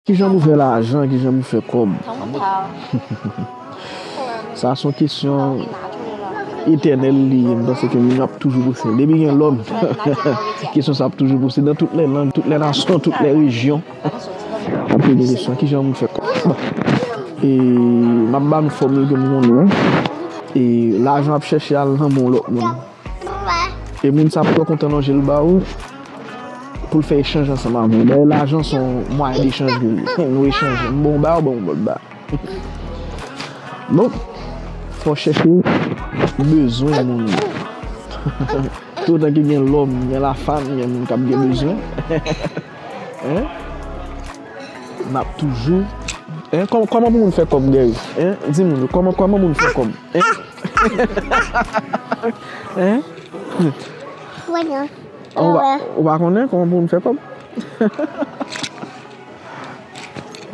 Kijan pou fè lajan, kijan pou fè kòb? Sa son kesyon etènèl li ye. M panse ke moun ap toujou pouse. Depi gen lòm, kesyon sa ap toujou pouse. Nan tout lè lang, tout lè nasyon, tout lè rejyon. Ap poze kesyon, kijan pou fè kòb? Bon, e m ap ba nou fòmil ke m konnen. E lajan ap chèche al nan men yon lòt moun. E moun sa ap twò kontan lonje l ba ou pou l fè echanj ansanm avè w. Dayè lajan se yon mwayen dechanj pou nou. Nou echanje. M bon w ba, ou ban m ba w. Donk, fò w chèche bezwen moun nan. Toutotan ke gen lòm, gen lafanm, gen moun k ap gen bezwen. N ap toujou. Kòman pou moun fè kòb Gary? Di moun yo, kòman moun fè kòb? Ou pa konnen kòman pou moun fè kòb?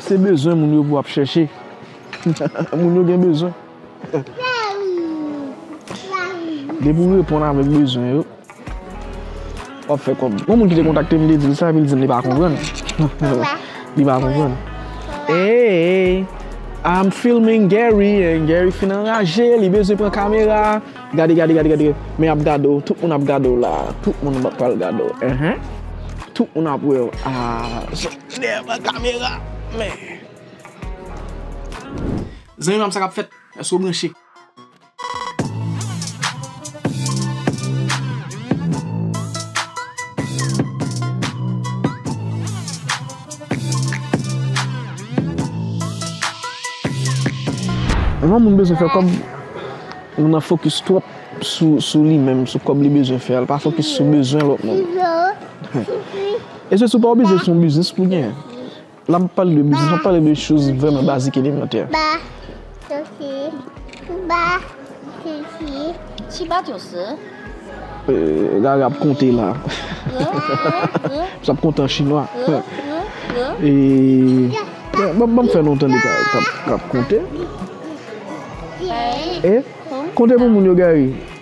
Se bezwen moun yo pou wap chèche. Moun yo gen bezwen. Depi ou reponn avèk bezwen yo. Wap fè kòb. Gon moun ki te kontakte m li te di m sa epi li di m li pa konprann. Li pa konprann. Eeyy I'm filming Gary and Gary fin anraje li bezwen pran kamera a. Gade gade gade gade men yap gade w tout moun ap gade w la a. Tout moun pral gade w ehe. Tout moun ap wè w aah. Soti dèyè pran kamera meh. Zanmi pam sakap fèt? Èske w branche? Anvan moun bezwen fè kòb, moun nan fokis twòp sou li menm, sou kòb li bezwen fè a, li pa fokis sou bezwen lòt moun. E se sou pa oblije son biznis pou gen. Lè map pale de biznis map pale de choz vreman bazik elemantè. Ba sosi ba sosi. Ti bat yo se. Rara ap konte la. Re re. Sa ap konte an chinwa. Re re. E banm fè non tande kap konte. Gari. E konte pou moun yo gari.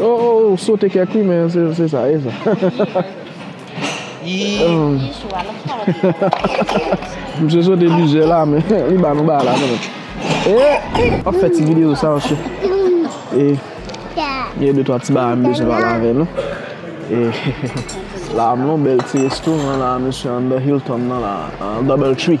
Oh oh ou sote kèk wi men se sa e sa. Misye sote plizyè la men li ba nou ba la kanmèm. Eh! Wap fè ti video sa ou chè. E gen de twa ti bagay m bezwen pale avè nou. E la m nan bèl ti restoran la misye anndan Hilton nan la Double tree.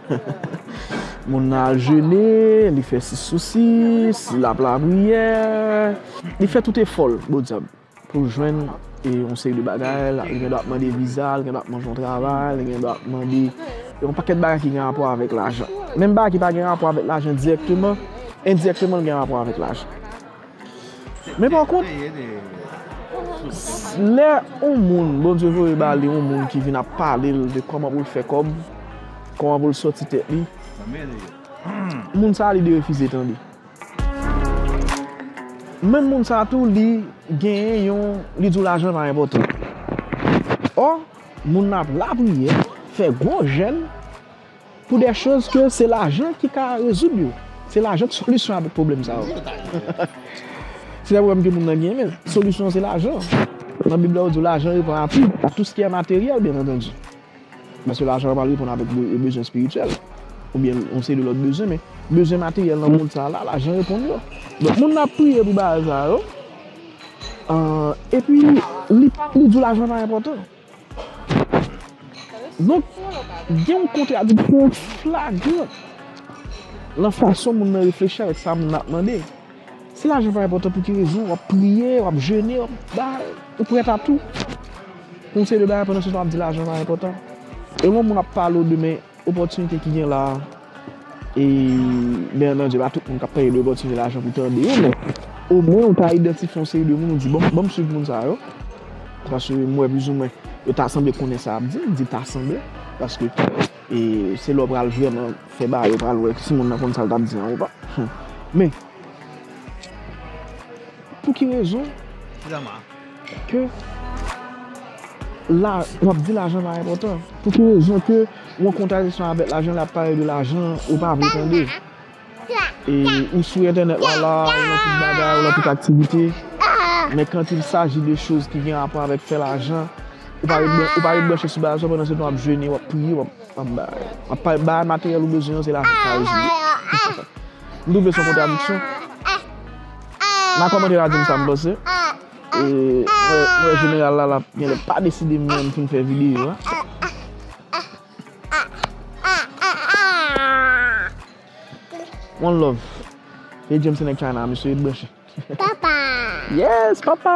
Moun nan al jene, li fè si sousi, si lap lapriyè, li fè tout efòl bodjab pou l jwenn yon seri de bagay, li gen dwa ap mande viza, li gen dwa ap mande yon travay, li gen dwa ap mande yon pakèt bagay ki gen rapò avèk lajan. Menm bagay ki pa gen rapò avèk lajan dirèkteman, endirèkteman l gen rapò avèk lajan. Men pa kont, lè yon moun Bondye voye ba li yon moun ki vin ap pale l de kòman pou l fè kòb, kòman pou l sòti tèt li, moun sa a li derefize tande. Menm moun sa a tou li genyen yon, li di w lajan pa enpòtan. Ò, moun nan ap lapriyè, fè gwo jèn. Pou de choz ke se lajan ki ka rezoud yo. Se lajan ki solisyon a tout pwoblèm sa yo. Se lè ou wèm ke moun nan gen men, solisyon se lajan. Nan bib la yo di lajan reponn a tou, a tou skiyè materyèl byen antandi. Paske lajan pa reponn avèk bezwen espirityèl, ou byen yon seri de lòt bezwen men, bezwen materyèl nan mond sa la, lajan reponn yo. Donk moun nan ap priye pou bagay sa yo, epi li di w lajan pa enpòtan. Donk, gen yon kontradiksyon flagran nan fason moun nan reflechi avèk sa moun nan ap mande. Si lajan pa enpòtan pou ki rezon w ap priye, w ap jene, ou prèt a tou pou yon seri de bagay pandan se tan w ap di lajan pa enpòtan? E lè yon moun ap pale w de men. Opòtinite ki gen la a, e byenantdi pa tout moun k ap pèdi opòtinite lajan pou tande yo men omwen ou ta idantifye yon seri de moun ou di bon, ban m suiv moun sa yo paske m wè plizoumwen yo ta sanble konnen sa y ap di, m di ta sanble paske se lè w pral vrèman fè bagay ou pral wè si moun nan konn sa l t ap di an ou pa men pou ki rezon. Ke la, w ap di lajan pa enpòtan. Pou ki rezon ke yon kontradisyon avèk lajan lè y ap pale de lajan ou pa vle tande. E ou sou entènèt la la, ou nan tout bagay, ou nan tout aktivite. Men quand il s'agit de choz ki gen rapò avèk fè lajan, ou pa ret ou pa ret branche sou bagay sa pandan se tan w ap jene, w ap priye, w ap bagay. W ap pale bagay materyèl ou bezwen an se lajan k al jere. M twouve se yon kontradiksyon. Nan kòmantè la dim sa m panse. E m wè jeneral la lap genlè pa deside menm pou n fè videyo a. One love. E James se nèg China a mesye e branche. Papa! Yes papa!